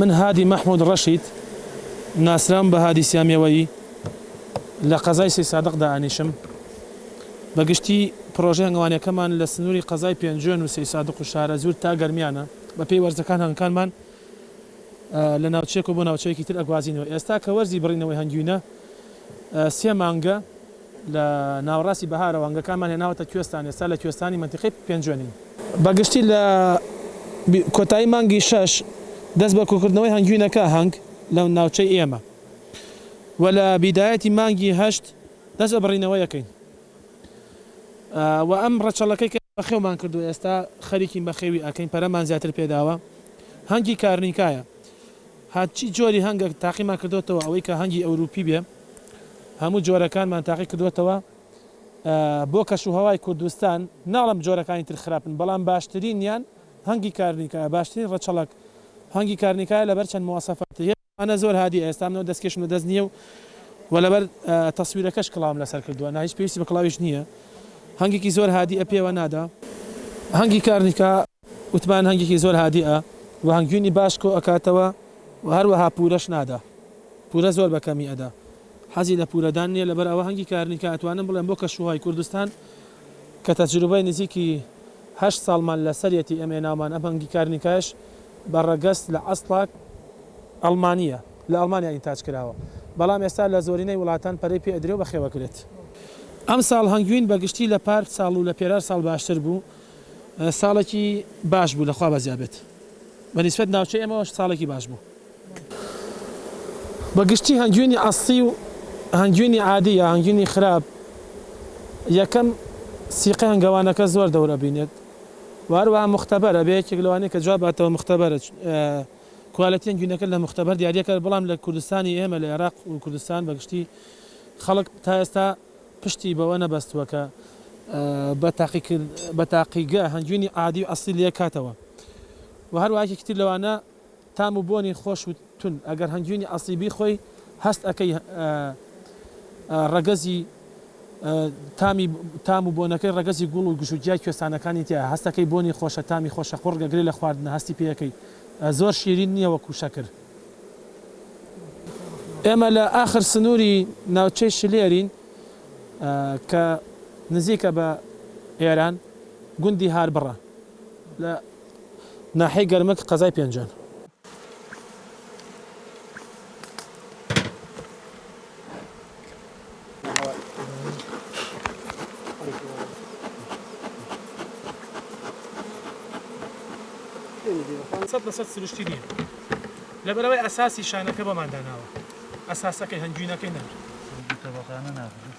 من هادی مەحمود ڕەشید ناسراوم بە هادی سیامیەوەیی لە قەزای سی سادق دانیشم بەگشتی پرۆژە هەنگوانەکەمان لە سنووری قەزای پێنجوێن و سی سادق و شارەزوور تا گەرمیانە بە پێی وەرزەکان هەنگکانمان لە ناوچەیەک و بۆ ناوچەیەکی تر ئەگوازینەوە ئێستا کە وەرزی بڕینەوەی هەنگوینە سێ مانگە لە ناوەڕاستی بەهارەوە هەنگەکانمان هێناوەتە کوێستان، ئێستا لە کوێستانی مەنتیقەی پێنجوێنین. بە گشتی لە کۆتایی مانگی شەش دەست بە کۆکردنەوەی هەنگوینەکە، هەنگ، لە ناوچەی ئێمە و لە بیدایەتی مانگی هەشت دەست بە بڕینەوەیەکەین و ئەم ڕەچەڵەکەی کە بەخێومان کردووە ئێستا خەریکین بەخێوی ئەکەین پەرەمان زیاتر پێداوە هەنگی کارنیکایە. هەرچی جۆری هەنگە تاقیمان کردۆتەوە ئەوەی کە هەنگی ئەوروپی بێ هەموو جۆرەکانمان تاقی کردۆتەوە بۆ کەش و هەوای کوردستان ناڵێم جۆرەکانی تر خراپن بەڵام باشترینیان هەنگی کارنیکایە باشترین ڕەچەڵەک هەنگی کارنیکایە لەبەر چەند مواسەفاتی هەیە ئەمانە زۆر هادی ئێستا منەوە دەستکێشم لە دەست نییە و وە لەبەر تەسویرەکەش کڵاوم لەسەر کردووە نا هیچ پێویستی بە کڵاویش نییە هەنگێکی زۆر هادی ئە پێوە نادا هەنگی کارنیکا. وتمان هەنگێکی زۆر هادیئە و هەنگوینی باش کۆ ئەکاتەوە و هەروەها پورەش نادا پورە زۆر بە کەمی ئەدا حەزی لە پورە دان نیە لەبەر ئەوە هەنگی کارنیکە ئەتوانم بڵێم بۆ کەشوهوای کوردستان کە تەجروبەی نزیکی هەشت ساڵمان لە سەریەتی ئەم ێناومان ئەم هەنگی کارنیکایش بە ڕەگەز لە ئەسڵاک ئەڵمانیە لە ئەڵمانیا ئینتاج کراوە بەڵام ئێستا لە زۆرینەی وڵاتان پەرەی پێ ئەدرێ و بەخێو ئەکرێت. ئەم ساڵ هەنگوین بە گشتی لە پار ساڵ و لە پێرار ساڵ باشتر بوو ساڵێکی باش بوو لە خوا بەزیا بێت بە نیسبەت ناوچەی ئێمەوەش ساڵێکی باش بوو. بە گشتی هەنگوینی ئەسڵی و هەنگوینی عادی یا هەنگوینی خراپ یەکەم سیقەی هەنگەوانەکە زۆر دەور ئەبینێت و هەروەها مختبر ئەبێ یەکێک لەوانەی کە جواب باتەوە مختبرە کوالێتی هەنگوینەکە لە مختبر دیاری ئەکات بەڵام لە کوردستانی ئێمە لە ئێراق و کوردستان بە گشتی خەڵک تا ئێستا پشتی بەوە نەبەستووە کە بە تاقیگە هەنگوینی عادی و ئەسڵی لێکاتەوە و هەروەها یەکێکی تر لەوانە تام و بۆنی خۆش و تون ئەگەر هەنگوینی ئەسڵی بیخۆی هەست ئەکەی ڕەگەزی تامی تام و بۆنەکەی ڕەگەزی گوڵ و گژوگیای کوێستانەکانی تیایە هەست ئەکەی بۆنی خۆشە تامی خۆشە قوڕگە گرێ لە خواردنە هەستی پێ ئەکەی زۆر شیرین نییە وەکو شەکر. ئێمە لە ئاخر سنووری ناوچەی شلێرین کە نزیکە بە ئێران، گوندی هاربڕە لە ناحیەی گەرمک قەزای پێنجوێن. سەد لە سەد سروشتی نییە لەبەرەوەی ئەساسی شانەکە بۆمان داناوە ئەساسەکەی هەنگوینەکەی نەر تەبەقانە ناخرێت